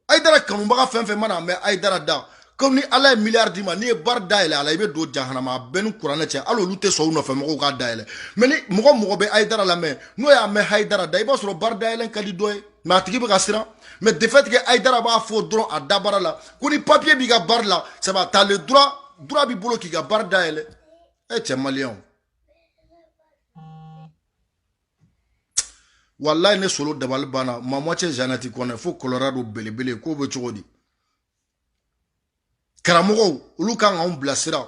ayidara kanubaga fɛn fɛn mana mɛn ayidara da komi ni ala ye miliyari d'i ma n'i ye bari dayɛlɛ a la i bɛ don jahanama a bɛ n ni kuranɛ cɛ hali olu tɛ sɔn u nɔfɛ mɔgɔw k'a dayɛlɛ mɛ ni mɔgɔ mɔgɔ bɛ ayidara lamɛn n'o y'a mɛn hayidara da i b'a sɔrɔ bari dayɛlɛ ka di dɔ ye mɛ a tigi bɛ ka siran mɛ de fait que ayidara b'a fɔ dɔrɔn a dabara la ko ni papiye b'i ka bari la ça va t'as le droit droit b'i bolo k'i ka bari dayɛlɛ e cɛ maliyɛnw walayi ne solo dabali banna ma moitié jeannette kɔnɛ fo colorado belebele ko bɛ cogo di karamɔgɔw olu kan k'anw bilasira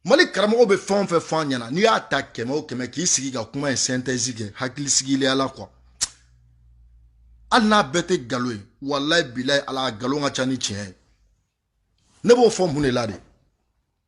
mali karamɔgɔw bɛ fɛn o fɛn fɔ an ɲɛna n'i y'a ta kɛmɛ o kɛmɛ k'i sigi ka kuma in sɛntɛzi kɛ hakili sigilenya la kuwa hali n'a bɛɛ tɛ nkalon ye walayi bilayi a la nkalon ka ca ni tiɲɛ ye ne b'o fɔ mun de la de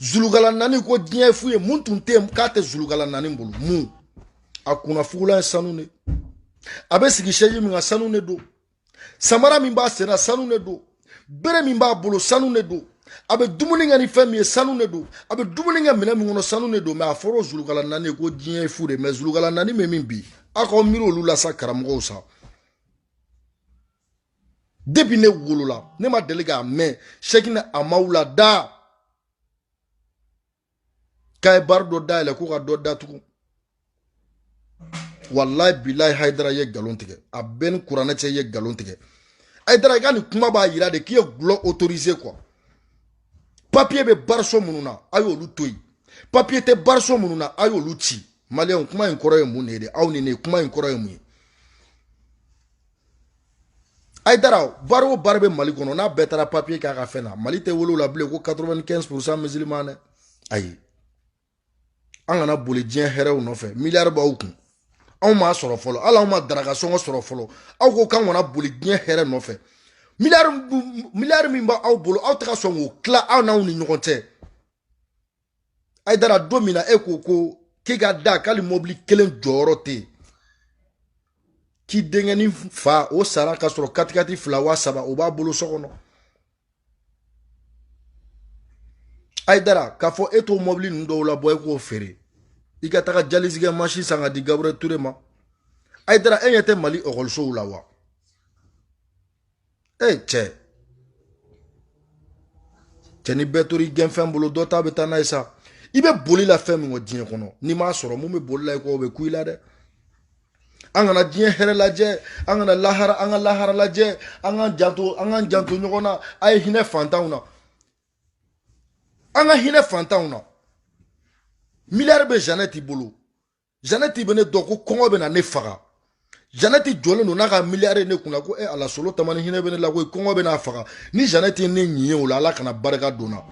zulukalanaani ko diɲɛ ye fu ye mun tun tɛ yen k'a tɛ zulukalanaani bolo mun a kunna fugulan ye sanu de a bɛ sigi sɛzi min kan sanu de don samara min b'a sen na sanu de don bere min b'a bolo sanu de don a bɛ dumuni kɛ ni fɛn min ye sanu de don a bɛ dumuni kɛ minɛn min kɔnɔ sanu de don mɛ a fɔra o zulukalanaani ye ko diɲɛ ye fu de mɛ zulukalanaani bɛ min bi aw k'aw miiri olu la sa karamɔgɔw sa depi ne wolola ne ma deli k'a mɛn sɛkina amawula da k'a ye bari dɔ dayɛlɛ ko ka dɔ datugu walayi bilayi hayidara ye nkalon tigɛ a bɛ n ni kuranɛ cɛ i ye nkalon tigɛ hayidara i ka nin kuma b'a yira de k'i ye dɔlɔ autorisé kuwa papiye bɛ bariso minnu na a y'olu to yen papiye tɛ bariso minnu na a y'olu ci maliyɛnw kuma in kɔrɔ ye mun de ye de aw ni ne kuma in kɔrɔ ye mun ye ayidara bari o bari bɛ mali kɔnɔ n'a bɛɛ taara papiye k'a ka fɛn na mali tɛ wele la bilen ko 95 pourcent musulman dɛ ayi an kana boli diɲɛ hɛrɛw nɔfɛ miliyari b'aw kun anw m'a sɔrɔ fɔlɔ hali anw ma daraka sɔngɔ sɔrɔ fɔlɔ aw ko k'an kana boli diɲɛ hɛrɛ nɔfɛ miliyari miliyari min b'aw bolo aw tɛ ka sɔn k'o tila aw n'aw ni ɲɔgɔn cɛ ayidara don min na e ko ko k'i ka da k'ali mɔbili kelen jɔyɔrɔ tɛ yen k'i denkɛni fa o sara ka sɔrɔ katikati fila wa saba o b'a bolo so kɔnɔ ayidara k'a fɔ e t'o mɔbili ninnu dɔw labɔ e k'o feere i ka taga jalizi kɛ masin san ka di gabriel ture ma ayidara e ɲɛ tɛ mali ekɔlisow la wa e cɛ cɛ ni bɛɛ tori gɛnfɛn bolo dɔ ta bɛ taa n'a ye sa i bɛ boli la fɛn min kɔ diɲɛ kɔnɔ n'i m'a sɔrɔ min bɛ boli la i kɔ o bɛ kun i la dɛ an kana diɲɛ hɛrɛ lajɛ an kana lahara an ka lahara lajɛ an ka janto an ka janto ɲɔgɔn na a ye hinɛ fantanw na an ka hinɛ fantanw na miliyari bɛ janɛti bolo janɛti bɛ ne dɔn ko kɔngɔ bɛna ne faga janɛti jɔlen don n'a ka miliyari ne kunna ko e ala solo tamani hinɛ bɛ ne la koyi kɔngɔ bɛn'a faga ni janɛti ne ɲin ye o la ala kana barika don na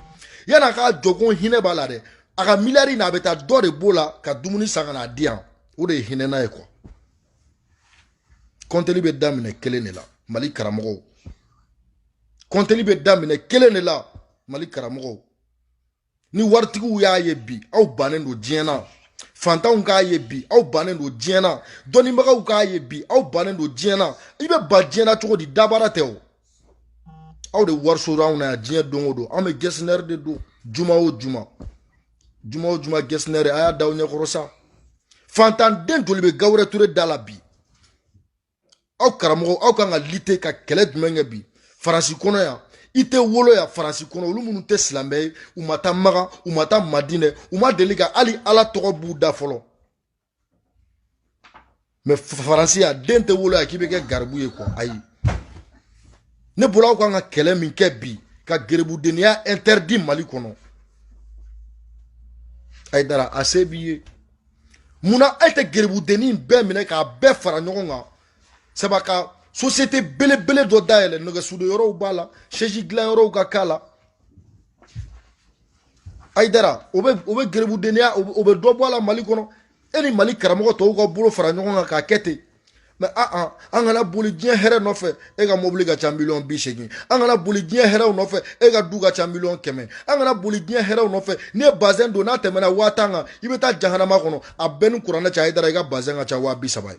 yann'a k'a jɔ ko hinɛ b'a la dɛ a ka miliyari na a bɛ taa dɔ de b'o la ka dumuni san ka n'a di yan o de ye hinɛna ye quoi kɔnteli bɛ daminɛ kelen de la mali karamɔgɔw kɔnteli bɛ daminɛ kelen de la mali karamɔgɔw ni waritigiw y'a ye bi aw bannen don diɲɛ na fantanw k'a ye bi aw bannen don diɲɛ na dɔnnibagaw k'a ye bi aw bannen don diɲɛ na i bɛ ban diɲɛ na cogo di dabara tɛ o aw de wariso anw na yan diɲɛ don o don an bɛ gɛsinɛri de don juma o juma juma o juma gɛsinɛri a y'a da aw ɲɛkɔrɔ sa fantanden joli bɛ gabriel touré da la bi aw karamɔgɔw aw kan ka lutter ka kɛlɛ jumɛn kɛ bi faransi kɔnɔ yan i tɛ wolo yan faransi kɔnɔ olu minnu tɛ silamɛ ye u ma taa makan u ma taa madinɛ u ma deli ka hali ala tɔgɔ b'u da fɔlɔ mais faransi yan den tɛ wolo yan k'i bɛ kɛ garibu ye quoi ayi ne bolo aw kan ka kɛlɛ min kɛ bi ka gerebudenya interdit mali kɔnɔ ayidara a se b'i ye munna e tɛ gerebudennin in bɛɛ minɛ k'a bɛɛ fara ɲɔgɔn kan saba ka sosiyete belebele dɔ dayɛlɛ nɛgɛsude yɔrɔw b'a la sɛji dilan yɔrɔw ka k'a la ayidara o bɛ o bɛ gerebudenya o bɛ dɔ bɔ a la mali kɔnɔ e ni mali karamɔgɔ tɔw ka bolo fara ɲɔgɔn kan k'a kɛ ten mais aa ah, ah, an kana boli diɲɛ hɛrɛ nɔfɛ e ka mobili ka ca miliyɔn bi seegin an kana boli diɲɛ hɛrɛw nɔfɛ e ka du ka ca miliyɔn kɛmɛ an kana boli diɲɛ hɛrɛw nɔfɛ n'i ye bazɛn don n'a tɛmɛna waa tan kan i bɛ taa jahanama kɔnɔ a b'e ni kuranɛ cɛ ayidara i ka bazɛn ka ca waa bi saba ye